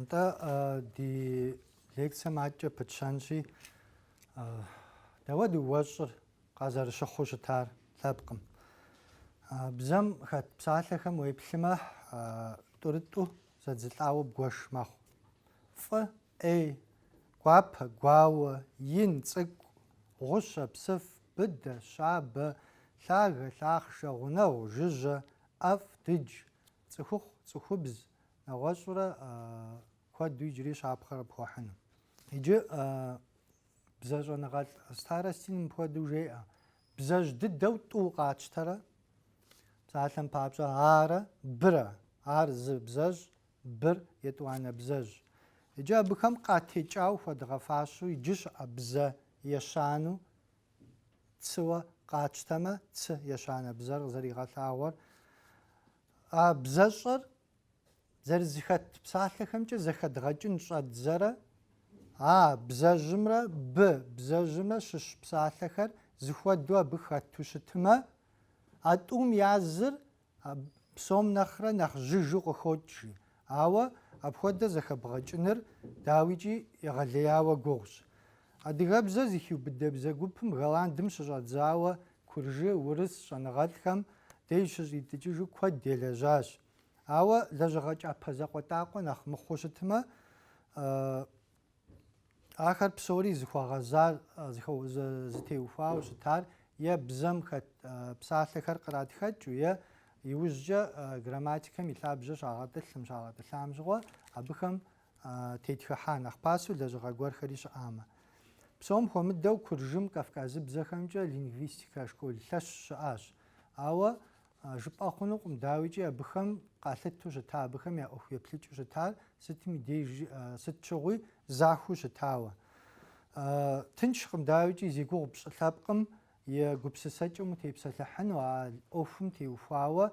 Нтӏэ, ди лекцэм адэкӏэ пытщэнщи, дауэт уэщӏыр къазэрыщыхъуу щытар лъэпкъым. Бзэм хэт псалъэхэм уеплъымэ, тӏурытӏу зэдзылӏауэ бгуэш мэхъу. Фӏы, ӏей, гуапэ, гуауэ, ин, цӏыкӏу, гъущэ, псыф, быдэ, щабэ, лъагэ, лъахъшэ, гъунэгъу, жыжьэ, ӏэфӏ, дыдж, цӏыхухъу, цӏыхубз, нэгъуэщӏурэ куэду иджыри щапхъэ къыпхуэхьыну. Иджы бзэщӏэныгъэлӏ Старостин мыпхуэдэу жеӏэ, Бзэжь дыдэу тӏу къатщтэрэ? Псалъэм папщӏэ, арэ, бырэ. Ар зы бзэжь, быр, етӏуанэ бзэжь. Иджы абыхэм къатекӏауэ хуэдгъэфащэу иджы щыӏэ бзэ ещанэу цыуэ къатщтэмэ, цы ещанэ бзэр къызэригъэлъагъуэр, а бзэщӏэр Зэрызэхэт псалъэхэмкӏэ зэхэдгъэкӏын щӏэдзэрэ А бзэжьымрэ Б бзэжьымрэ щыщ псалъэхэр зыхуэдэу абы хэту щытымэ, а тӏум я зыр псом нэхърэ нэхъ жьыжу къыхокӏ, жи. Ауэ апхуэдэ зэхэбгъэкӏыныр, дауикӏи, егъэлеяуэ гугъущ. Адыгэбзэр зыхиубыдэ бзэ гупым Голландым щыщӏэдзауэ куржы, урыс щӏэныгъэлӏхэм деж щыщӏитӏыкӏыжу куэд елэжьащ. Ауэ лэжьыгъэ кӏапэ закъуэтӏакъуэ нэхъ мыхъуу щытмэ, ахэр псори зыхуэгъэзар, зытеухуауэ щытар е бзэм хэт псалъэхэр къратхыкӏыу, е иужькӏэ грамматикэм и лъабжьэ щагъэтӏылъым, щагъэтӏылъам щыгъуэ абыхэм тетхыхьа нэхъ пасэу лэжьыгъэ гуэрхэри щыӏамэ. Псом хуэмыдэу Куржым кавказыбзэхэмкӏэ лингвистикэ школ лъэщ щыӏащ, ауэ Жыпӏэ хъунукъым, дауикӏи абыхэм къалъыту щыта, абыхэм я ӏуэху еплъыкӏыу щытар сытми деж, сыт щыгъуи захуэу щытауэ. Тыншкъым, дауикӏи зи гугъу пщӏы лъэпкъым и гупсысэкӏэм утепсэлъыхьыну, а ӏуэхум теухуауэ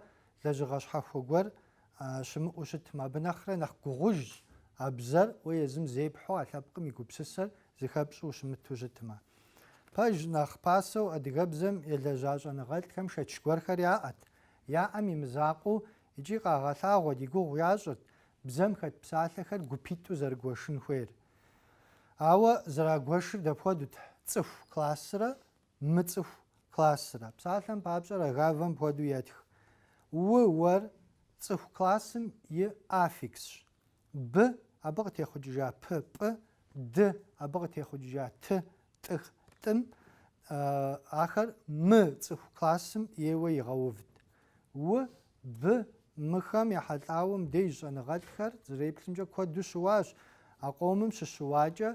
лэжьыгъэ щхьэхуэ гуэр щымыӏэу щытмэ. Абы нэхърэ нэхъ гугъужщ а бзэр, уэ езым зепхьу а лъэпкъым и гупсысэр зыхэпщӏу ущымыту щытмэ. Пэжщ, нэхъ пасэу адыгэбзэм елэжьа щӏэныгъэлӏхэм шэч гуэрхэр яӏэт, яӏэм и мызакъуэу икӏи къагъэлъагъуэт, и гугъу ящӏырт бзэм хэт псалъэхэр гупитӏу зэрыгуэшын хуейр. Ауэ зэрагуэшыр дапхуэдэут, цӏыху классрэ мыцӏыху классрэ. Псалъэм папщӏэ Рогавэ мыпхуэдэу етх. У-уэр цӏыху классым и аффиксщ, Б, абы къытехъукӏыжа пы, пӏы, Д, абы къытехъукӏыжа ты, тӏых, тӏым, ахэр мыцӏыху классым ейуэ игъэувт. У, Б, Мыхэм ехьэлӏауэм деж щӏэныгъэлӏхэр зэреплъымкӏэ куэду щыуащ, а къомым щыщыуакӏэ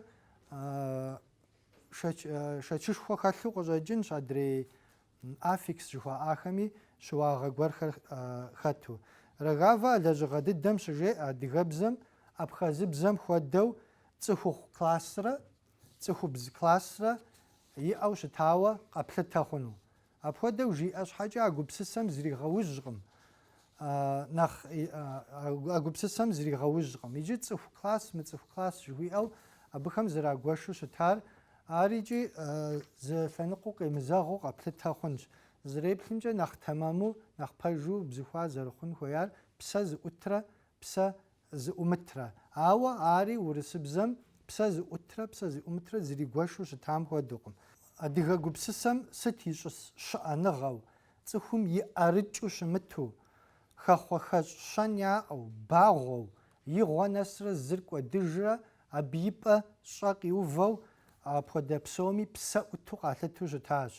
шэчышхуэ хэлъу къыщӏэкӏынщ адрей Аффикс жыхуаӏахэми щыуагъэ гуэрхэр хэту. Рогава а лэжьыгъэ дыдэм щыжеӏэ адыгэбзэм, абхъазыбзэм хуэдэу цӏыхухъу классрэ цӏыхубз классрэ иӏэу щытауэ къэплъытэ хъуну. Апхуэдэу жиӏэ щхьэкӏэ а гупсысэм зригъэужькъым, нэхъ а гупсысэм зригъэужькъым. Иджы цӏыху класс, мыцӏыху класс жыхуиӏэу абыхэм зэрагуэшу щытар Ар икӏи зы лъэныкъуэу къемызэгъыу къэплъытэ хъунщ. Зэреплъымкӏэ, нэхъ тэмэму, нэхъ пэжу бзыхуа зэрыхъун хуеяр псэ зыӏутрэ псэ зыӏумытрэ. Ауэ ари урысыбзэм псэ зыӏутрэ псэ зыӏумытрэ зэригуэшу щытам хуэдэукъым. Адыгэ гупсысэм сыт ищӏыс щыӏэныгъэу, цӏыхум и ӏэрыкӏыу щымыту, хэхъуэхэщӏ щэн яӏэу, багъуэу, и гъуэ нэсрэ зыр кӏуэдыжрэ Абы и пӏэ щӏэ къиувэу апхуэдэ псоми псэ ӏуту къалъыту щытащ.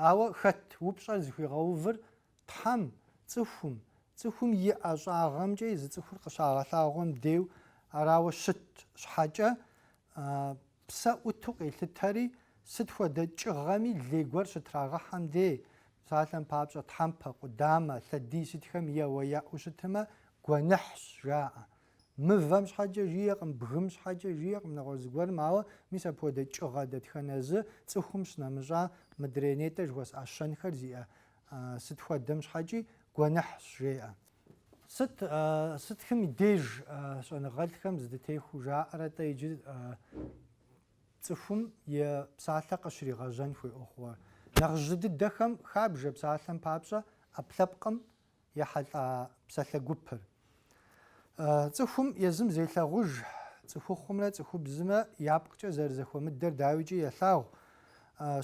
Ауэ хэт упщӏэр зыхуигъэувыр Тхьэм, цӏыхум, цӏыхум и ӏэщӏагъэмкӏэ езы цӏыхур къыщагъэлъагъуэм дейу арауэ щыт щхьэкӏэ, псэ ӏуту къелъытэри, сыт хуэдэ кӏыгъэми лей гуэр щытрагъэхьэм дей, псалъэм папщӏэ, тхьэмпэ, къудамэ, лъэдий сытхэм еуэ яӏэу щытмэ, гуэныхьщ, жаӏэ. Мывэм щхьэкӏэ жиӏэкъым, бгым щхьэкӏэ жиӏэкъым нэгъуэщӏ зыгуэрым, ауэ мис апхуэдэ кӏыгъэ дэтхэнэ зы цӏыхум щынэмыщӏа мыдрей нетӏэ жыхуэсӏа щэнхэр зиӏэ сыт хуэдэм щхьэкӏи гуэныхьщ, жеӏэ. Сыт, сытхым и деж щӏэныгъэлӏхэм зэдытехуэу жаӏэрэ-тӏэ иджы цӏыхум и псалъэ къыщригъэжьэн хуей ӏуэхугъуэр? Нэхъ жьы дыдэхэм хабжэ псалъэм папщӏэ ӏэпкълъэпкъым ехьэлӏа псалъэ гупыр. Цӏыхум езым зелъагъуж цӏыхухъумрэ цӏыхубзымрэ я пкъкӏэ зэрызэхуэмыдэр дауикӏи елъагъу.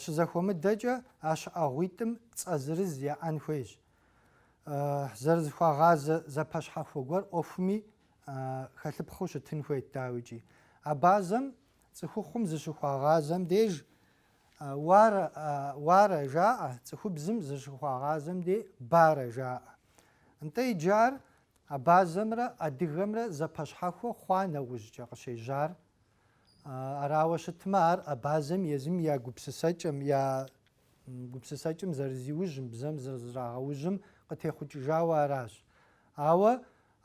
Щызэхуэмыдэкӏэ а щыӏэгъуитӏым цӏэ зырыз яӏэн хуейщ. Зэрызыхуагъазэ зэпэщхьэхуэ гуэр ӏуэхуми хэлъыпхъыу щытын хуейт дауикӏи. Абазэм цӏыхухъум зыщыхуагъазэм деж Уарэ, уарэ жаӏэ, цӏыхубзым зыщыхуагъазэм де барэ жаӏэ. Нтӏэ иджы ар абазэмрэ адыгэмрэ зэпэщхьэхуэ хъуа нэужькӏэ къыщежьар? Арауэ щытмэ, ар абазэм езым я гупсысэкӏэм, я гупсысэкӏэм зэрызиужьым, бзэм зэрызрагъэужьым къытехъукӏыжауэ аращ. Ауэ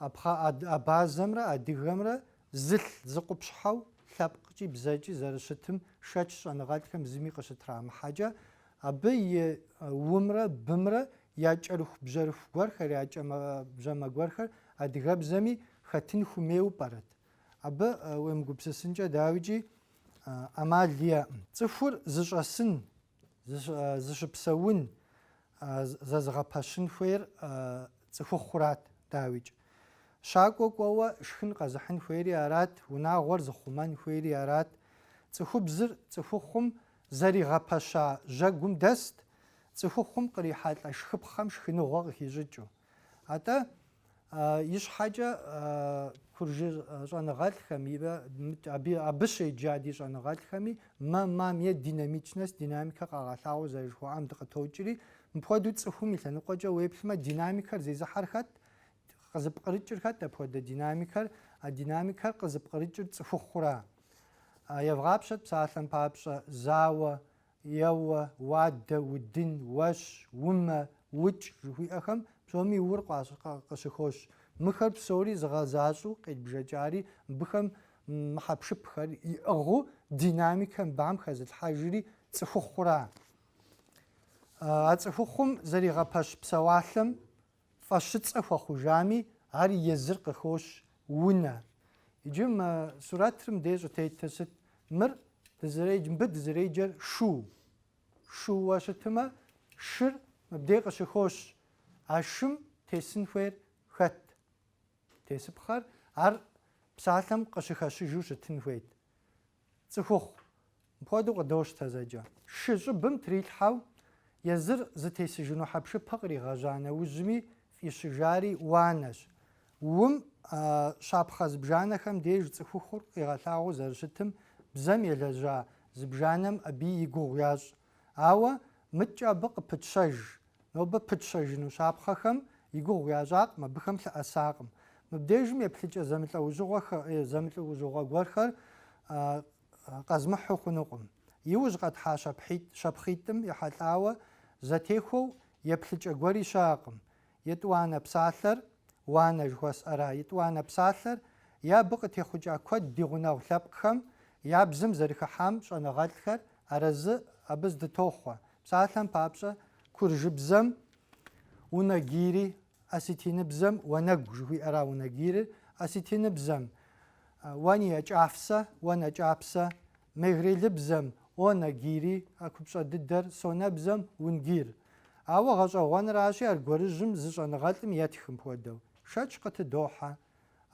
Абхъаз-абазэмрэ адыгэмрэ зылъ зы къупщхьэу лъэпкъкӏи бзэкӏи зэрыщытым шэч щӏэныгъэлӏхэм зыми къыщытрамыхьэкӏэ, абы и умрэ бымрэ я кӏэрыхубжьэрыху гуэрхэр, я кӏэмэ-бжьэмэ гуэрхэр адыгэбзэми хэтын хуэмейуэ пӏэрэт? Абы уемыгупсысынкӏэ дауикӏи ӏэмал иӏэкъым. Цӏыхур зыщӏэсын Зыщыпсэун зэзыгъэпэщын хуейр цӏыхухъурат, дауикӏ. Щакӏуэ кӏуэуэ шхын къэзыхьын хуейри арат, унагъуэр зыхъумэн хуейри арат. Цӏыхубзыр цӏыхухъум зэригъэпэща жьэгум дэст, цӏыхухъум кърихьэлӏэ шхыпхъэм шхыныгъуэ къыхищӏыкӏыу. Атӏэ ищхьэкӏэ куржы щӏэныгъэлӏхэми абы щеджа ди щӏэныгъэлӏхэми мэ-мам е динамичность, динамикэ къагъэлъагъуэу зэрыжыхуаӏам дыкъытокӏри, мыпхуэдэу цӏыхум и лъэныкъуэкӏэ уеплъмэ, динамикэр зезыхьэр хэт, къызыпкърыкӏыр хэт апхуэдэ динамикэр, а динамикэр къызыпкърыкӏыр цӏыхухъура. Евгъапщэт псалъэм папщӏэ, зауэ, Еуэ, уадэ, удын, уэщ, умэ, укӏ жыхуиӏэхэм псоми ур къыщыхощ. Мыхэр псори зыгъэзащӏэу къедбжэкӏари, мыбыхэм мы хьэпшыпхэр иӏыгъыу динамикэ мыбам хэзылъхьэжри цӏыхухъура. А цӏыхухъум зэригъэпэщ псэуалъэм Фӏэщыцӏэ хуэхъужами, ар езыр къыхощ, унэ. Иджы мы сурэтыр мыдей щӏытетыр сыт? Мыр дызэреджэ, мыбы дызэреджэр шу. Шууэ щытымэ, шыр мыбдей къыщыхощ. А шым тесын хуейр хэт? Тесыпхъэр ар псалъэм къыщыхэщыжу щытын хуейт. Цӏыхухъу мыпхуэдэу къыдощтэ зэкӏэ. Шы щӏыбым трилъхьэу езыр зытесыжыну хьэпшыпэ къригъэжьа нэужьми фӏищыжари уанэщ. Ум щапхъэ зыбжанэхэм деж цӏыхухъур къигъэлъагъуэу зэрыщытым бзэм елэжьа зыбжанэм абы и гугъу ящӏ. Ауэ мыдэкӏэ абы къыпытщэж. Нобэ пытщэжыну щапхъэхэм и гугъу ящӏакъым, абыхэм лъыӏэсакъым. Мыбдежым еплъыкӏэ зэмылӏэужьыгъуэ гуэрхэр къэзмыхьу хъунукъым. Иужь къэтхьа щапхъитӏым ехьэлӏауэ зэтехуэу еплъыкӏэ гуэри щыӏэкъым. Етӏуанэ псалъэр, уанэ жыхуэсӏэра, Етӏуанэ псалъэр е абы къытехъукӏа куэд ди гъунэгъу лъэпкъхэм я бзэм зэрыхыхьам щӏэныгъэлӏхэр арэзы абы здытохъуэ. Псалъэм папщӏэ, куржыбзэм унагири, осетиныбзэм уанэгу жыхуиӏэра унагирыр, осетиныбзэм уани якӏафсэ, уанэ кӏапсэ, мегрелыбзэм онагири, а купщӏэ дыдэр, сонэбзэм унгир. Ауэ гъэщӏэгъуэнращи, аргуэрыжьым зы щӏэныгъэлӏым етхым хуэдэу, шэч къытыдохьэ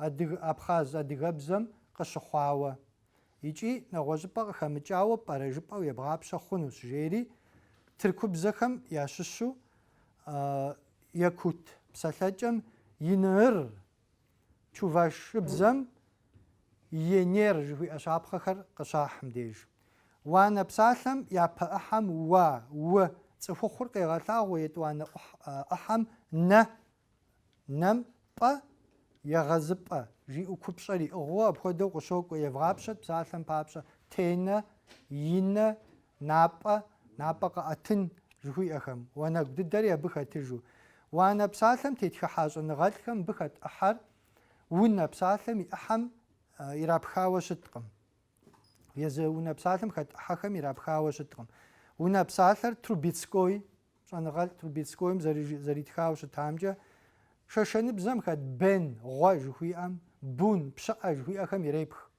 адыг абхъаз адыгэбзэм къыщыхъуауэ икӏи нэгъуэщӏыпӏэ къыхэмыкӏауэ пӏэрэ жыпӏэу ебгъапщэ хъунущ, жери тыркубзэхэм ящыщу якут псалъэкӏэм иныыр Чувашыбзэм Енер жыхуиӏэ щапхъэхэр къыщахьым деж. Уанэ псалъэм япэ ӏыхьэм уа, уэ, цӏыхухъур къегъэлъагъуэ етӏуанэ ӏыхьэм нэ, нэм пӏэ, егъэзыпӏэ, жиӏэу купщӏэр иӏыгъыу апхуэдэу къыщокӏуэ, евгъапщэт псалъэм папщӏэ, тенэ, инэ, Напӏэ, напӏэ къэӏэтын жыхуиӏэхэм, уанэгу дыдэри абы хэтыжу. Уанэ псалъэм тетхыхьа щӏэныгъэлӏхэм мыбы хэт ӏыхьэр унэ псалъэм и ӏыхьэм ирапхауэ щыткъым. Езы унэ псалъэм хэт ӏыхьэхэм ирапхауэ щыткъым. Унэ псалъэр Трубецкой, щӏэныгъэлӏ Трубецкойм зэритхауэ щытамкӏэ, шэшэныбзэм хэт Бен, гъуэ жыхуиӏэм, Бун, пщыӏэ жыхуиӏэхэм ирепх.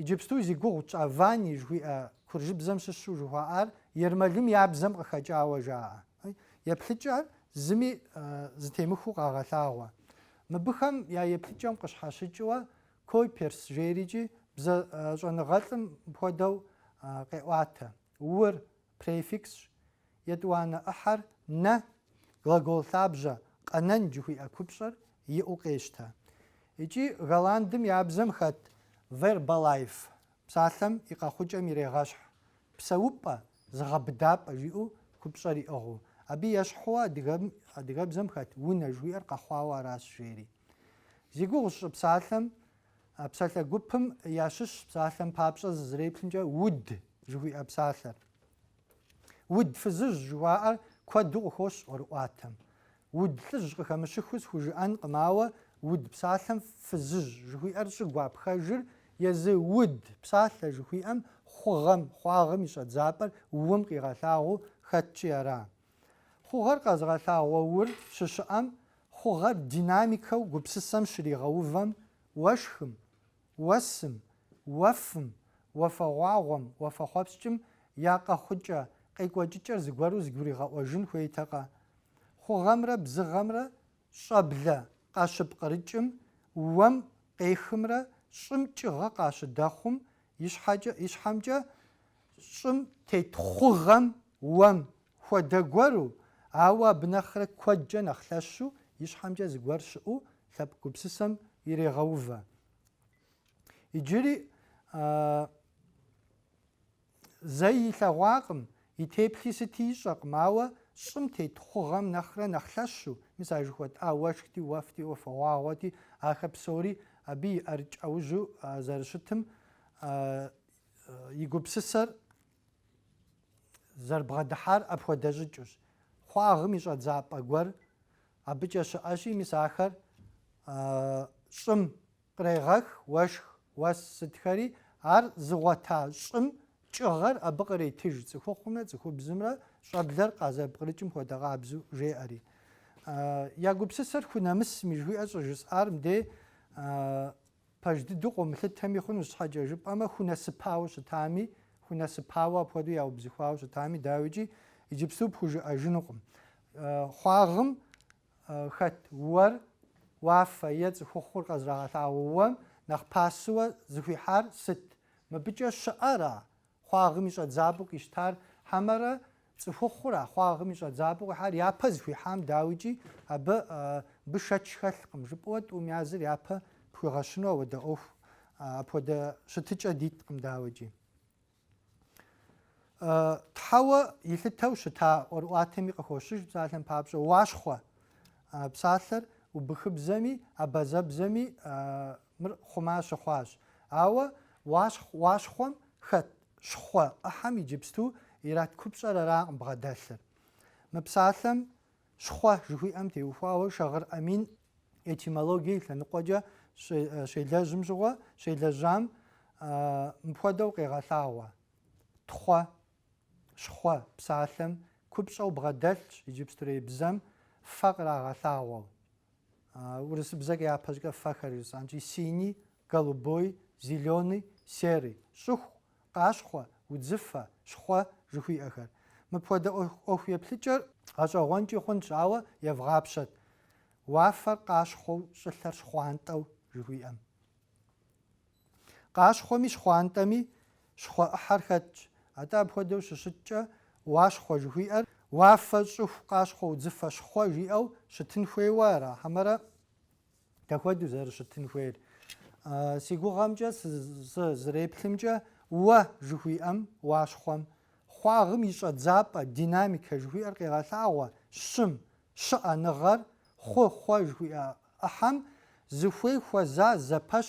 Иджыпсту зи гугъу тщӏа Вани жыхуиӏэ куржыбзэм щыщу жыхуаӏар ермэлым я бзэм къыхэкӏауэ жаӏэ. Еплъыкӏэр зыми зэтемыхуэу къагъэлъагъуэ. Мыбыхэм я еплъыкӏэм къыщхьэщыкӏыуэ Койперс жерикӏи бзэ щӏэныгъэлӏым хуэдэу къеӏуатэ. Ур префиксщ, Етӏуанэ ӏыхьэр нэ, глагол лъабжьэ къэнэн жыхуиӏэ купщӏэр иӏэу къещтэ. Икӏи голландым я бзэм хэт verblijf псалъэм и къэхъукӏэм ирегъэщхь псэупӏэ, зыгъэбыдапӏэ жиӏэу купщӏэр иӏыгъыу. Абы ещхьууэ адыгэбзэм хэт унэ жыхуиӏэр къэхъуауэ аращ жери. Зи гугъу сщӏы псалъэм, а псалъэ гупым ящыщщ псалъэм папщӏэ зызэреплъымкӏэ уд жыхуиӏэ псалъэр. Уд фызыжь жыхуаӏэр куэду къыхощ ӏуэрыӏуатэм. Уд лӏыжь къыхэмыщыххэу схужыӏэнкъым, ауэ уд псалъэм фызыжь жыхуиӏэр щӏыгуапхэжыр езы уд псалъэ жыхуиӏэм хъугъэм, хъуагъым и щӏэдзапӏэр ум къигъэлъагъуу хэткӏи ара? Хъугъэр къэзыгъэлъагъуэ ур щыщыӏэм, хъугъэр динамикэу гупсысэм щригъэувэм, уэшхым, Уэсым, уэфым, уафэгъуагъуэм, уафэхъуэпскӏым я къэхъукӏэ, къекӏуэкӏыкӏэр зыгуэру зыгуригъэӏуэжын хуейтэкъэ? Хъугъэмрэ бзыгъэмрэ щӏэблэ къащыпкърыкӏым, уэм къехымрэ щӏым кӏыгъэ къащыдэхъум и щхьэкӏэ, и щхьэмкӏэ щӏым тет хъугъэм, уэм, Хуэдэ гуэру, ауэ абы нэхърэ куэдкӏэ нэхъ лъэщу, и щхьэмкӏэ зыгуэр щыӏэу лъэпкъ гупсысэм ирегъэувэ. Иджыри зэи илъэгъуакъым, и теплъи сыти ищӏэкъым, ауэ щӏым тет хъугъэм нэхърэ нэхъ лъэщу, мис а жыхуэтӏа уэшхти, уэфти, уафэгъуагъуэти, ахэр псори абы и ӏэрыкӏ ӏэужьу зэрыщытым и гупсысэр Зэрыбгъэдыхьар апхуэдэ щӏыкӏэущ. Хъуагъым и щӏэдзапӏэ гуэр абыкӏэ щыӏэщи, мис ахэр щӏым кърегъэх, уэшх, уэс сытхэри, ар зыгъуэта щӏым кӏыгъэр абы къретыж, цӏыхухъумрэ цӏыхубзымрэ щӏэблэр къазэрыпкърыкӏым хуэдэ къабзэу жеӏэри. Я гупсысэр хунэмысми жыхуиӏэр щӏыжысӏар мыдей Пэж дыдэу къомылъытэми хъунущ, щхьэкӏэ жыпӏэмэ хунэсыпауэ щытами, хунэсыпауэ апхуэдэу яубзыхуауэ щытами, дауикӏи, иджыпсту пхужыӏэжынукъым. Хъуагъым хэт уэр, уафэ е цӏыхухъур къызэрагъэлъагъуэ уэм нэхъ пасэуэ зыхуихьар сыт? Мыбыкӏэ щыӏэра Хъуагъым и щӏэдзапӏэу къищтар хьэмэрэ цӏыхухъура? Хъуагъым и щӏэдзапӏэу къихьар япэ зыхуихьам, дауикӏи, абы бы шэч хэлъкъым, жыпӏэуэ тӏум языр япэ пхуигъэщыну ауэдэ ӏуэху, апхуэдэ щытыкӏэ диткъым, дауикӏи. Тхьэуэ илъытэу щыта ӏуэрыӏуатэми къыхощыж псалъэм папщӏэ, уащхъуэ псалъэр убыхыбзэми, абазэбзэми Мыр хъума щыхъуащ. Ауэ уащхъу уащхъуэм хэт щхъуэ ӏыхьэм иджыпсту ират купщӏэр аракъым бгъэдэлъыр. Мы псалъэм щхъуэ жыхуиӏэм теухуауэ Шагъыр Амин этимологие лъэныкъуэкӏэ щелэжьым щыгъуэ, щелэжьам мыпхуэдэу къегъэлъагъуэ, тхъуэ, щхъуэ псалъэм купщӏэу бгъэдэлъщ иджыпстурей бзэм фэ кърагъэлъагъуэу. Урысыбзэкӏэ япэщӏыкӏэ фэхэр жысӏэнщи, синий, голубой, зеленый, серый, щӏыху, къащхъуэ, удзыфэ, щхъуэ жыхуиӏэхэр. Мыпхуэдэ ӏуэху еплъыкӏэр гъэщӏэгъуэнкӏи хъунщ, ауэ евгъапщэт уафэр къащхъуэу, щӏылъэр щхъуантӏэу жыхуиӏэм. Къащхъуэми щхъуантӏэми щхъуэ ӏыхьэр хэтщ, атӏэ апхуэдэу щыщыткӏэ уащхъуэ жыхуиӏэр уафэ щӏыху къащхъуэ удзыфэ щхъуэ жиӏэу щытын хуейуэ ара? Хьэмэрэ дапхуэдэу зэрыщытын хуейр? Си гугъэмкӏэ сызреплъымкӏэ, уэ жыхуиӏэм уащхъуэм хъуагъым и щӏэдзапӏэ, динамикэ жыхуиӏэр къегъэлъагъуэ щым, Щыӏэныгъэр хъу хъуэ жыхуиӏэ ӏыхьэм зыхуей хуэза зэпэщ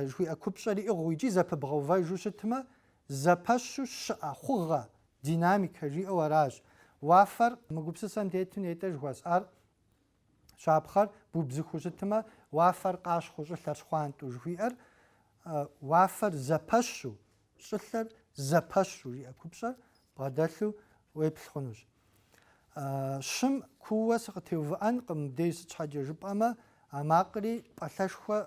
жыхуиӏэ купщӏэр иӏыгъыу икӏи зэпыбгъэувэжу щытмэ, зэпэщу щыӏэ хъугъэ, динамикэ жиӏэу аращ. Уафэр мы гупсысэм тету нетӏэ жыхуэсӏар, щапхъэр бубзыхуу щытмэ, уафэр къащхъуэу щӏылъэр щхъуантӏэу жыхуиӏэр, уафэр зэпэщу, щӏылъэр зэпэщу жиӏэ купщӏэр бгъэдэлъу уеплъ хъунущ. Щым куууэ сыкъытеувыӏэнкъым мыбдеж, сыт щхьэкӏэ жыпӏэмэ, а макъри пӏалъэшхуэ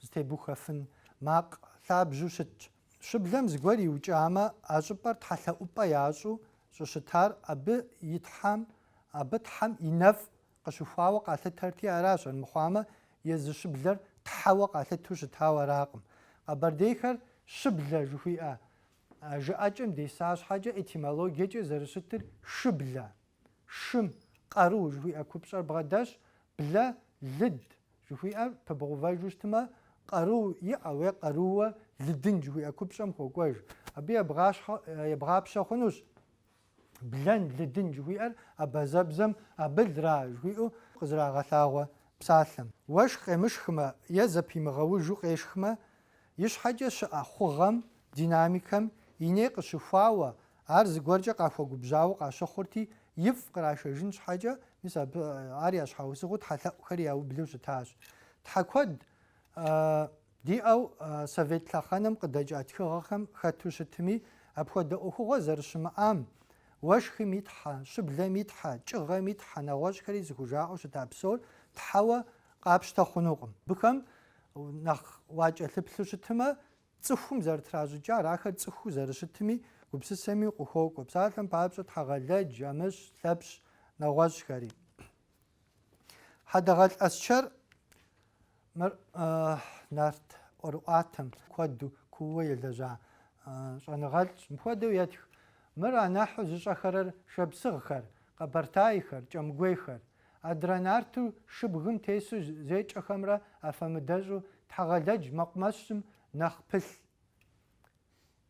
зытебухуэфын макъ лъабжьу щытщ. Щыблэм зыгуэр иукӏамэ, а щӏыпӏэр тхьэлъэӏупӏэ ящӏу щӏыщытар абы и тхьэм, абы тхьэм и нэфӏ къыщыхуауэ къалъытэрти аращ, армыхъуамэ, езы щыблэр тхьэуэ къалъытэу щытауэ аракъым. Къэбэрдейхэр щыблэ жыхуиӏэ жыӏэкӏэм деса щхьэкӏэ этимологиекӏэ зэрыщытыр шыблэ, шым, къару жыхуиӏэ купщӏэр бгъэдэлъщ, блэ, лыд, жыхуиӏэр пыбгъэувэжу щытмэ, къару иӏэу е къарууэ лыдын жыхуиӏэ купщӏэм хуокӏуэж. Абы ебгъащхьэ, ебгъапщэ хъунущ. Блэн, лыдын жыхуиӏэр абазэбзэм абы лра жыхуиӏэу къызэрагъэлъагъуэ псалъэм. Уэшх къемышхмэ е зэпимыгъэужу къешхмэ, ищхьэкӏэ щыӏэ хъугъэм, динамикэм, и ней къыщыхуауэ, ар зыгуэркӏэ къахуэгубжьауэ къащыхъурти, ифӏ кърашэжын щхьэкӏэ, мис абы ар я щхьэусыгъуэу тхьэлъэӏухэри яублэу щытащ. Тхьэ куэд Диӏэу Совет лъэхъэнэм къыдэкӏа тхыгъэхэм хэту щытми, апхуэдэ ӏуэхугъуэ зэрыщымыӏам, уэшхым и Тхьэ, щыблэм и Тхьэ, кӏыгъэм и Тхьэ, нэгъуэщӏхэри зыхужаӏэу щыта псор Тхьэуэ къапщтэ хъунукъым. Абыхэм нэхъ уакӏэлъыплъу щытмэ, цӏыхум зэрытращӏыкӏар, ахэр цӏыхуу зэрыщытым и гупсысэм укъыхуокӏуэ. Псалъэм папщӏэ, Тхьэгъэлэдж, Амыщ, Лъэпщ, нэгъуэщӏхэри. Хьэдэгъэлӏ Аскэр мыр нарт ӏуэрыӏуатэм куэду кууэ елэжьа щӏэныгъэлӏщ. Мыпхуэдэу етх. Мыр анахьу зыщӏэхэрэр шапсыгъхэр, къэбэртайхэр, кӏэмгуейхэр. Адрэ нарту шыбгым тесу зекӏэхэмрэ афэмыдэщӏу Тхьэгъэлэдж мэкъумэщым нэхъ пылъ.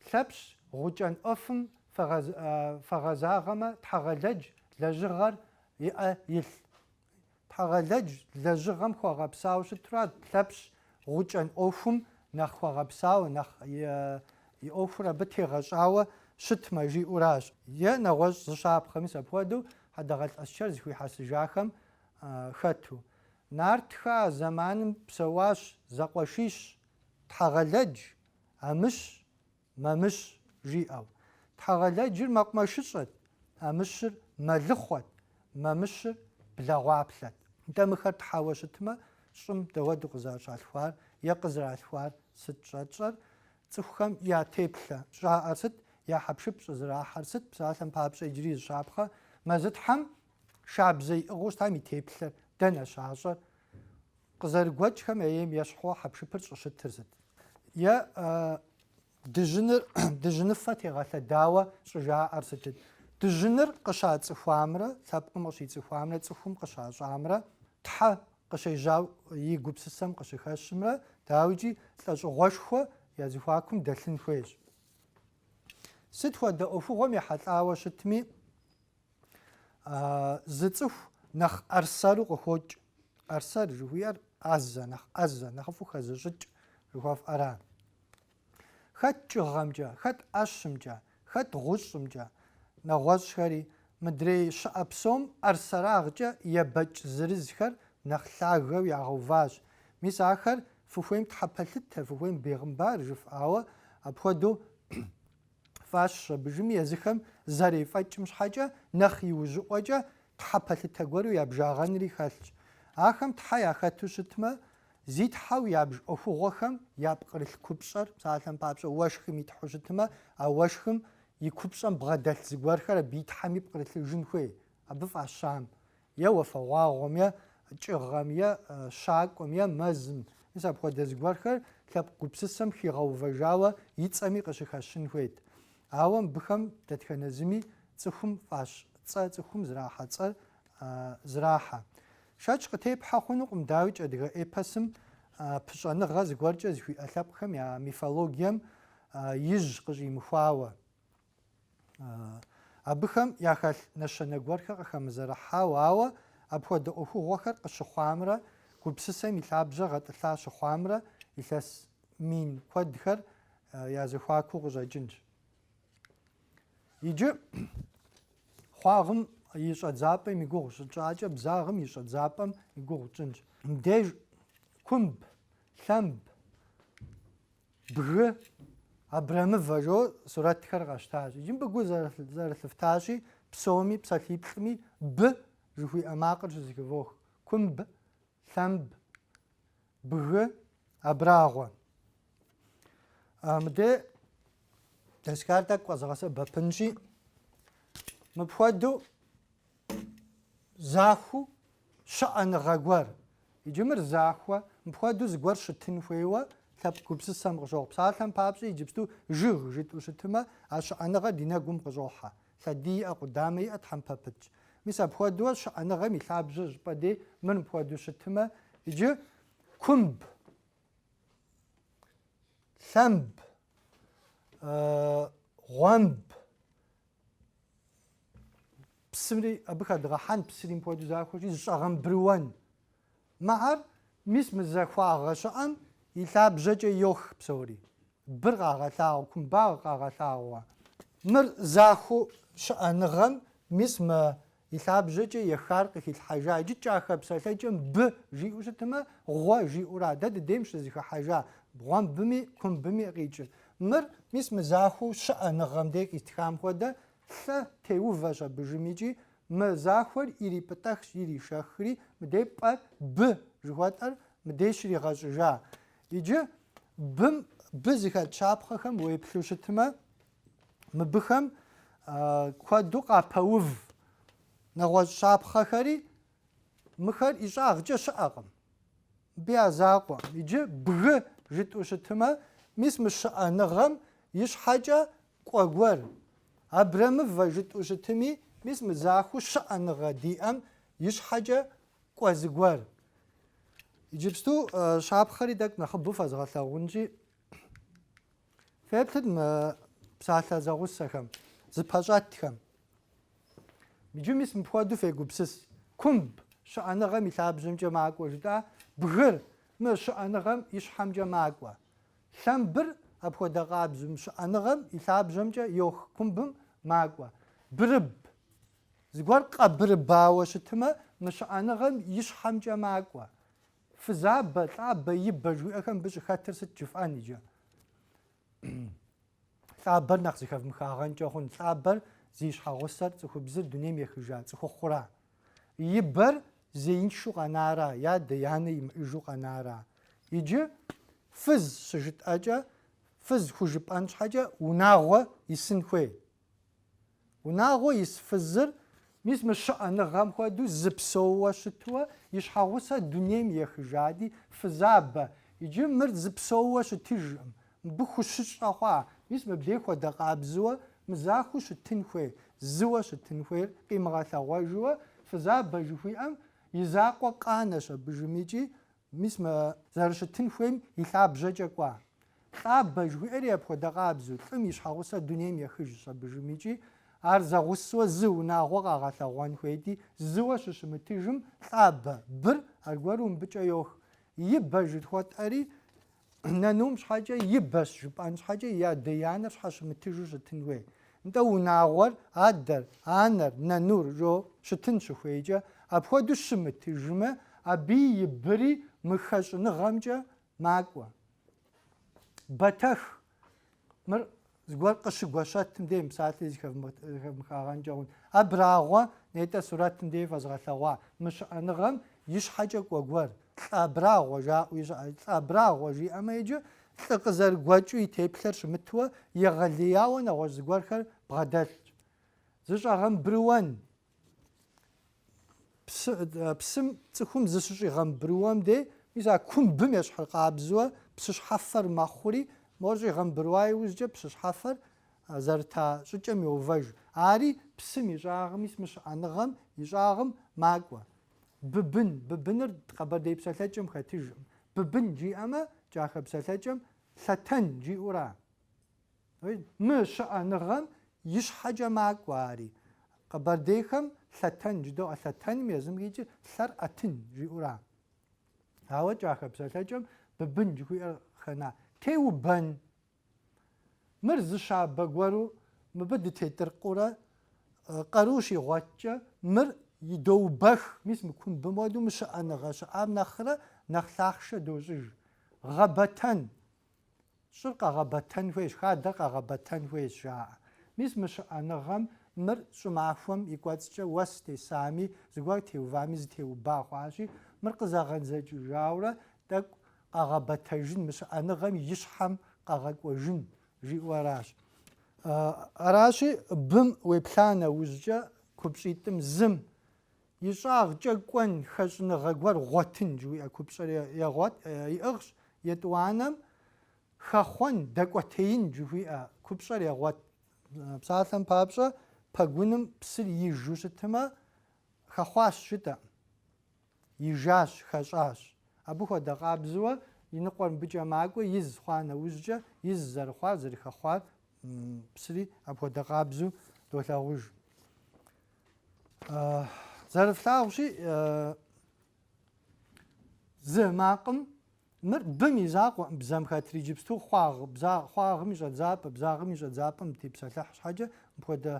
Лъэпщ гъукӏэн ӏуэфым фэгъэзагъэмэ Тхьэгъэлэдж лэжьыгъэр иӏэ илъ. Тхьэгъэлэдж лэжьыгъэм хуэгъэпсауэ щытурат Лъэпщ гъукӏэн ӏуэхум нэхъ хуэгъэпсауэ, нэхъ и ӏуэхур абы тегъэщӏауэ щытмэ жиӏэуращ. Е нэгъуэщӏ зы щапхъэ, мис апхуэдэу Хьэдэгъэлӏ Аскэр зэхуихьэсыжахэм хэту. Нартхэ я зэманым псэуащ зэкъуэшищ, Тхьэгъэлэдж. Амыщ, Мамыщ жиӏэу. Тхьэгъэлэджыр мэкъумэшыщӏэт, Амыщыр мэлыхъуэт, Мамыщыр блэгъуаплъэт. Нтӏэ мыхэр тхьэуэ щытмэ, щӏым дауэду къызэрыщалъхуар е къызэралъхуар сыт щӏэтщӏэр, цӏыхухэм я теплъэ щӏаӏэр сыт, я хьэпшып щӏызэрахьэр сыт, псалъэм папщӏэ иджыри зы щапхъэ, Мэзытхьэм шабзэ иӏыгъыу щытам и теплъэр дэнэ щащӏэр, Къызэрыгуэкӏхэм я ейм ещхьу хьэпшыпыр щӏыщытыр сыт? Е дыжьыныр дыжьыныфэ тегъэлъэдауэ щӏыжаӏэр сытыт? Дыжьыныр къыщацӏыхуамрэ лъэпкъым къыщицӏыхуамрэ цӏыхум къыщащӏамрэ Тхьэ къыщежьау и гупсысэм къыщыхэщымрэ, дауикӏи, лӏэщӏыгъуэшхуэ я зэхуакум дэлъын хуейщ. Сыт хуэдэ ӏуэхугъуэм ехьэлӏауэ щытми, Зы цӏыху нэхъ ӏэрсэру къыхокӏ. ӏэрсэр жыхуиӏэр ӏэзэ, нэхъ ӏэзэ, нэхъыфӏу хэзыщӏыкӏ жыхуэфӏэра. Хэт кӏыгъэмкӏэ, хэт ӏэщымкӏэ, хэт гъущӏымкӏэ, нэгъуэщӏхэри, мыдрей щыӏэ псом ӏэрсэрагъкӏэ ебэкӏ зырызхэр нэхъ лъагэу ягъэуващ. Мис ахэр фыхуейм тхьэпэлъытэ, фыхуейм бегъымбар жыфӏэ, ауэ апхуэдэу Фӏащ щӏэбыжым езыхэм зэрефӏэкӏым щхьэкӏэ нэхъ иужьыӏуэкӏэ Тхьэ пэлъытэ гуэру ябжагъэнри хэлъщ. Ахэм Тхьэ яхэту щытмэ, зи Тхьэу ябж ӏуэхугъуэхэм я пкърылъ купщӏэр, псалъэм папщӏэ, уэшхым и Тхьэу щытмэ, а уэшхым и купщӏэм бгъэдэлъ зыгуэрхэр абы и Тхьэми пкърылъыжын хуей, абы фӏащам. Е уафэгъуагъуэм, е кӏыгъэм, е щакӏуэм, е мэзым, мис апхуэдэ зыгуэрхэр лъэпкъ гупсысэм хигъэувэжауэ и цӏэми къыщыхэщын хуейт. Ауэ мыбыхэм дэтхэнэ зыми цӏыхум фӏащ цӏэ цӏыхум зэрахьэ цӏэр зэрахьэ. Шэч къытепхьэ хъунукъым, дауикӏ адыгэ эпосым пыщӏэныгъэ зыгуэркӏэ зыхуиӏэ лъэпкъхэм я мифологием ижь къыщӏимыхуауэ. Абыхэм яхэлъ нэщэнэ гуэрхэр къыхэмызэрыхьау, ауэ апхуэдэ ӏуэхугъуэхэр къыщыхъуамрэ гупсысэм и лъабжьэ гъэтӏылъа щыхъуамрэ илъэс мин куэдхэр я зэхуакуу къыщӏэкӏынщ. Иджы хъуагъым и щӏэдзапӏэм и гугъу щытщӏакӏэ бзагъым и щӏэдзапӏэм и гугъу тщӏынщ. Мыбдеж кумб, лъэмб, Бгы, абрэмывэ жо сурэтхэр къэщтащ. Иджы мыбы гу зэрылъыфтащи, псоми, псалъиплӏми б жыхуиӏэ макъыр щызэхывох. Кумб, лъэмб, бгы, абрагъуэ. Мыдэ доскар тӏэкӏу къэзыгъэсэбэпынщи, мыпхуэдэу Захуэу щыӏэныгъэ гуэр. Иджы мыр захуэ. Мыпхуэдэу зыгуэр щытын хуейуэ лъэпкъ гупсысэм къыщохъу. Псалъэм папщӏэ, иджыпсту жыг жытӏэу щытымэ, а щыӏэныгъэр ди нэгум къыщӏохьэ. Лъэдий иӏэ, къудамэ иӏэ, тхьэмпэ пытщ. Мис апхуэдэуэ щыӏэныгъэм и лъабжьэ щӏыпӏэ дей мыр мыпхуэдэу щытымэ, иджы кумб, лъэмб, гъуэмб, псымри абы хэдгъэхьэн псыри мыпхуэдэу захуэщи зыщӏэгъэмбрыуэн мыхэр мис мы захуагъэ щыӏэм и лъабжьэкӏэ йох псори быр къагъэлъагъуэ кумбагъ къагъэлъагъуэ мыр захуэу щыӏэныгъэм мис мы И лъабжьэкӏэ ехар къыхилъхьэжа иджы кӏахэ псалъэкӏэм бы жиӏэу щытмэ, гъуэ жиӏэура? Дэ дыдейм щызэхыхьэжа бы гъуэмбыми, кумбыми къикӏыр. Мыр, мис мы захуэу щыӏэныгъэм дей къистхам хуэдэ, лъэ теувэщ абы жым икӏи, мы захуэр ирипӏытӏэхщ, иришэхри, мыдей пӏэр, бы жыхуэтӏэр, мыдей щригъэщӏыжа. Иджы бым, бы зыхэт щапхъэхэм уеплъу щытмэ, мыбыхэм куэду къапэув нэгъуэщӏ щапхъэхэри, мыхэр ищӏагъкӏэ щыӏэкъым. Бы я закъуэ. Иджы бгы жытӏу щытымэ, мис мы щыӏэныгъэм и щхьэкӏэ кӏуэ гуэр. Абрэмывэ жытӏу щытыми, мис мы захуэу щыӏэныгъэ диӏэм и щхьэкӏэ кӏуэ зыгуэр. Иджыпсту щапхъэри тӏэкӏу нэхъыбэу фэзгъэлъагъунщи, Феплъыт мы псалъэ зэгъусэхэм, зыпэщӏэтхэм. Иджы мис мыпхуэдэу фегупсыс. Кумб, щыӏэныгъэм и лъабжьэмкӏэ макӏуэ жытӏа, бгыр мы щыӏэныгъэм и щхьэмкӏэ макӏуэ. Лъэмбыр апхуэдэ къабзу мы щыӏэныгъэм и лъабжьэмкӏэ йох кумбым макӏуэ. Бырыб. Зыгуэр къэбырыбауэ щытымэ, мы щыӏэныгъэм и щхьэмкӏэ макӏуэ. Фызабэ, лӏабэ, ибэ жыхуиӏэхэм бы щӏыхэтыр сыт жыфӏэн иджы? Лӏабэр нэхъ зыхэвмыхагъэнкӏэ хъун. Лӏабэр зи щхьэгъусэр цӏыхубзыр дунейм ехыжа цӏыхухъура? Ибэр зеиншэу къэнара, ядэ янэ имыӏэжу къэнара? Иджы фыз щыжытӏэкӏэ, фыз хужыпӏэн щхьэкӏэ унагъуэ исын хуей. Унагъуэ ис фызыр. Мис мы щыӏэныгъэм хуэдэу зы псоууэ щытуэ и щхьэгъусэр дунейм ехыжади, фызабэ. Иджы мыр зы псоууэ щытыжкъым. Мыбы хущыщӏэ хъуа? Мис мыбдей хуэдэ къабзыуэ мы захуэу щытын хуейр, зыуэ щытын хуейр къимыгъэлъэгъуэжуэ, фызабэ жыхуиӏэм и закъуэ къанэщ абы жымикӏи, Мис мы зэрыщытын хуейм и лъабжьэкӏэ кӏуа. Лӏабэ жыхуиӏэри апхуэдэ къабзэу, лӏым и щхьэгъусэр дунейм ехыжщ абы жымыкӏи, ар зэгъусэуэ зы унагъуэ къагъэлъэгъуэн хуейти, зыуэ щыщымытыжым, лӏабэ, быр, аргуэру мыбыкӏэ йох. Ибэ жыхуэтӏэри, Нанум щхьэкӏэ ибэщ жыпӏэн щхьэкӏэ и адэ-янэр щхьэщымытыжу щытын хуей. Нтӏэ, унагъуэр адэр, анэр, нанур жиӏэу щытын щыхуейкӏэ, апхуэдэу щымытыжмэ, абыи и быри мы хэщӏыныгъэмкӏэ макӏуэ. Бэтэх, Мыр зыгуэр къыщыгуэщэтым дей мы псалъэр зыхэвмыхагъэнкӏэ хъун. Абрагъуэ нетӏэ сурэтым дей фэзгъэлъэгъуа мы щыӏэныгъэм и щхьэкӏэ кӏуэ гуэр, лӏы абрагъуэ жаӏэуи щыӏэщ. Лӏы абрагъуэ жиӏэмэ иджы лӏы къызэрыгуэкӏыу и теплъэр щымытуэ, егъэлеяуэ нэгъуэщӏ зыгуэрхэр бгъэдэлъщ. Зыщӏэгъэмбрыуэн псым цӏыхум зыщыщӏигъэмбрыуэм дей, мис а кумбым ещхьыр къабзэуэ псыщхьэфэр мэхъури, мор щӏигъэмбрыуа иужькӏэ псыщхьэфэр зэрыта щӏыкӏэм йоувэж. Ари псым и щӏагъым, мис мы щыӏэныгъэм и щӏагъым макӏуэ. Быбын, быбыныр къэбэрдей псэлъэкӏэм хэтыжкъым. Быбын жиӏэмэ кӏахэ псэлъэкӏэм лъэтэн жиӏэура. Мы щыӏэныгъэм и щхьэкӏэ макӏуэ ари. Къэбэрдейхэм лъэтэн жыдоӏэ, лъэтэным езым къикӏыр лъэр ӏэтын жиӏэура. Ауэ кӏахэ псэлъэкӏэм быбын жыхуиӏэр къыхэна. Теубэн. Мыр зы щабэ гуэру мыбы дытетыркъыурэ къару щигъуэткӏэ мыр идоубэх. Мис мы кумбым хуэдэу мы щыӏэныгъэ щыӏам нэхърэ нэхъ лъахъшэ дощӏыж. Гъэбэтэн. Щӏыр къэгъэбэтэн хуейщ, хадэр къэгъэбэтэн хуейщ, жаӏэ. Мис мы щыӏэныгъэм мыр щӏымахуэм и кӏуэцӏкӏэ уэс тесами, зыгуэр теувами зытеуба хъуащи, мыр къызэгъэдзэкӏыжаурэ тӏэкӏу къэгъэбэтэжын, мы щыӏэныгъэм и щхьэм къэгъэкӏуэжын жиӏэу аращ. Аращи, бым уеплъа нэужькӏэ купщӏитӏым зым И щӏагъкӏэ кӏуэн хэщӏыныгъэ гуэр гъуэтын жыхуиӏэ купщӏэр егъуэт, иӏыгъщ, етӏуанэм хэхъуэн, дэкӏуэтеин жыхуиӏэ купщӏэр егъуэт. Псалъэм папщӏэ, пэгуным псыр ижу щытмэ, хэхъуащ жытӏэм, ижащ, хэщӏащ. Абы хуэдэ къабзэуэ и ныкъуэр мыбыкӏэ макӏуэ из хъуа нэужькӏэ, из зэрыхъуар, зэрыхэхъуар, псыри апхуэдэ къабзэу долъагъуж. Зэрыфлъагъущи, зы макъым мыр бым и закъуэӏым, бзэм хэтри иджыпсту хъуагъ, бза, хъуагъым и щӏэдзапӏэ, бзагъым и щӏэдзапӏэм тепсэлъыхь щхьэкӏэ, мыпхуэдэ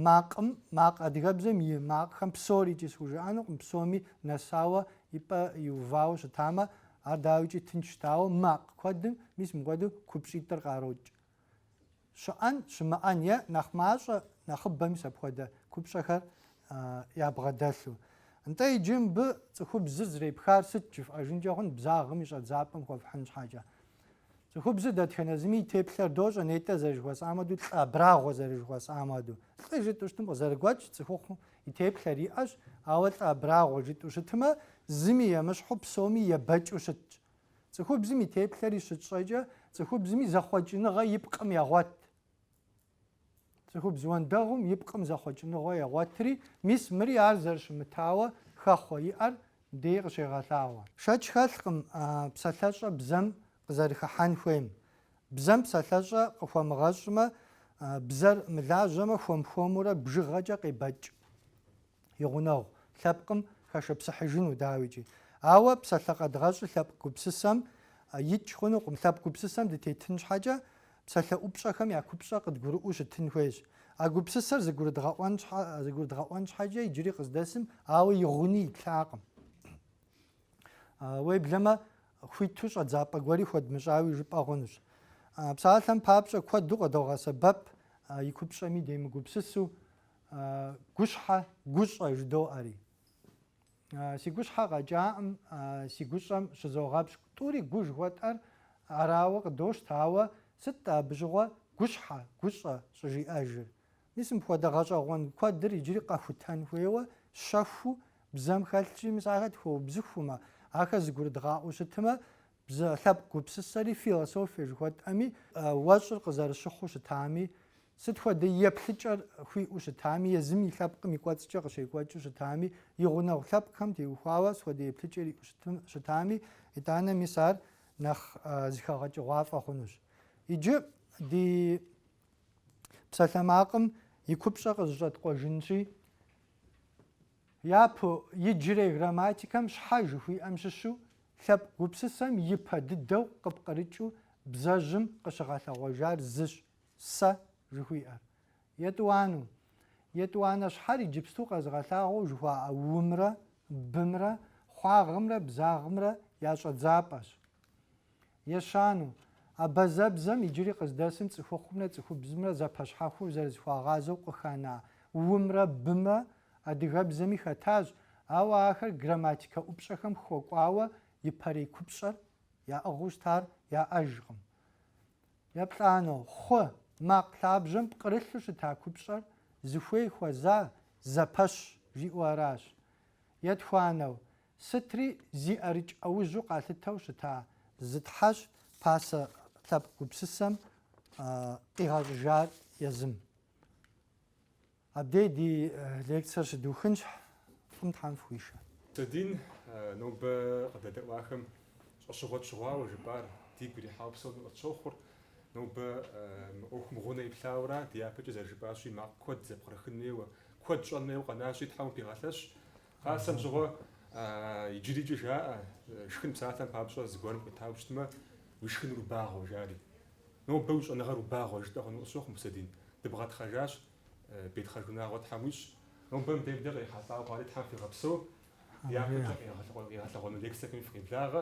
макъым, макъ адыгэбзэм и макъхэм псорикӏи схужыӏэнукъым, псоми нэсауэ и пӏэ иувауэ щытамэ, ар дауикӏи тынш щытауэ, макъ куэдым мис мыпхуэдэу купщӏитӏыр къарокӏ. Щыӏэн, щымыӏэн е нэхъ мащӏэ нэхъыбэ мис апхуэдэ купщӏэхэр ябгъэдэлъу. Нтӏэ иджы мыбы цӏыхубзыр зэрепхар сыт жыфӏэжынкӏэ хъун бзагъым и щӏэдзапӏэм хуэфхьын щхьэкӏэ. Цӏыхубзыр дэтхэнэ зыми и теплъэр дощӏэ нетӏэ зэрыжыхуэсӏам хуэдэу, лӏы абрагъуэ зэрыжыхуэсӏам хуэдэу. Лӏы жытӏэу щытым къызэрыгуэкӏ цӏыхухъум и теплъэр иӏэщ, ауэ лӏы абрагъуэ жытӏэу щытымэ, зыми емыщхьу псоми ебэкӏыу щытщ. Цӏыхубзым и теплъэри щытщӏэкӏэ цӏыхубзми зэхъуэкӏыныгъэ и пкъым егъуэт. Цӏыхубз уэндэгъум и пкъым зэхъуэкӏыныгъэ егъуэтри, мис мыри ар зэрыщымытауэ хэхъуэ иӏэр дей къыщегъэлъагъуэ. Шэч хэлъкъым псалъэщӏэ бзэм къызэрыхыхьэн хуейм. Бзэм псалъэщӏэ къыхуэмыгъэщӏмэ, бзэр мылажьэмэ, хуэм-хуэмурэ бжыгъэкӏэ къебэкӏ. и гъунэгъу лъэпкъым хэшыпсыхьыжыну, дауикӏи. Ауэ псалъэ къэдгъэщӏыр лъэпкъ гупсысэм текӏ хъунукъым. Лъэпкъ гупсысэм дытетын щхьэкӏэ, псалъэ ӏупщӏэхэм я купщӏэр къыдгурыӏуэу щытын хуейщ. А гупсысэр зыгурыдгъэӏуэн щхьэкӏэ иджыри къыздэсым, ауэ и гъуни итлъакъым. Уеблэмэ, хуиту щӏэдзапӏэ гуэри хуэдмыщӏауи жыпӏэ хъунущ. Псалъэм папщӏэ, куэду къыдогъэсэбэп и купщӏэми демыгупсысу, Гущхьэ, гущӏэ жыдоӏэри. Си гущхьэ къэкӏаӏым, си гущӏэм щызогъэпщкӏу. Тӏури гу жыхуэтӏэр арауэ къыдощтэ, ауэ сыт-тӏэ абы щыгъуэ гущхьэ, гущӏэ щӏыжиӏэжыр? Мис мыпхуэдэ гъэщӏэгъуэн куэдыр иджыри къэхутэн хуейуэ щэхуу бзэм хэлъщи, мис ахэр тхуэубзыхумэ, ахэр зыгурыдгъаӏуэу щытмэ, Бзэ лъэпкъ гупсысэри философие жыхуэтӏэми, уэщӏыр къызэрыщыхъуу щытами, сыт хуэдэ еплъыкӏэр хуиӏэу щытами, езым и лъэпкъым и кӏуэцӏкӏэ къыщекӏуэкӏыу щытами, и гъунэгъу лъэпкъхэм теухуауэ сыт хуэдэ еплъыкӏэр иӏэу щытами, итӏанэ мис ар нэхъ зыхэгъэкӏыгъуафӏэ хъунущ. Иджы ди псалъэмакъым и купщӏэ къызэщӏэткъуэжынщи, Япэу, иджырей грамматикэм щхьэ жыхуиӏэм щыщу лъэпкъ гупсысэм ипэ дыдэу къыпкърыкӏыу бзэжьым къыщыгъэлъэгъуэжар зыщ, сэ жыхуиӏэр. Етӏуанэу, етӏуанэ щхьэр иджыпсту къэзыгъэлъагъуэу жыхуаӏэ умрэ бымрэ хъуагъымрэ бзагъымрэ я щӏэдзапӏэщ. Ещанэу, абазэбзэм иджыри къыздэсым цӏыхухъумрэ цӏыхубзымрэ зэпэщхьэхуэу зэрызэхуагъазэу къыхэна у-мрэ бы-мрэ адыгэбзэми хэтащ, ауэ ахэр грамматикэ ӏупщӏэхэм хуэкӏуауэ ипэрей купщӏэр яӏыгъыу щытар яӏэжкъым. Еплӏанэу, хъу, макъ лъабжьэм пкърылъу щыта купщӏэр зыхуей хуэза зэпэщ жиӏэу аращ. Етхуанэу, Сытри зи ӏэрыкӏ ӏэужьу къалъытэу щыта зы тхьэщ пасэ лъэпкъ гупсысэм къигъэщӏыжар езым. Абдей ди лекцэр щыдухынщ, фӏым Тхьэм фыхуишэ. Мусэдин, нобэ къыдэдэӏуахэм щӏэщыгъуэ тщыгъуауэ жыпӏар дигу ирихьауэ псоми къытщохъур. Нобэ мы ӏуэхум и гъунэ иплъауэ аращ, дяпэкӏэ зэрыжыпӏащи, макъ куэд зэпкърыхын хуейуэ, куэд щӏэн хуейуэ къэнащи, Тхьэм упыгъэлъэщ. Пасэм щыгъуэ иджырикӏ жаӏэ, шхын псалъэм папщӏэ зыгуэрым къуитауэ щытмэ, уи шхыныр убагъуэ, жари. Нобэ уи щӏэныгъэр убагъуэ, жытӏэ хъуну къысщохъу, Мусэдин. Дыбгъэтхъэжащ, утхъэжу унагъуэ Тхьэм уищӏ. Нобэ мыбдеж къекӏуэлӏауэ хъуари Тхьэм фигъэпсэу, дяпэкӏэ къигъэлъэгъуэну лекцэхэми фыкъиблагъэ.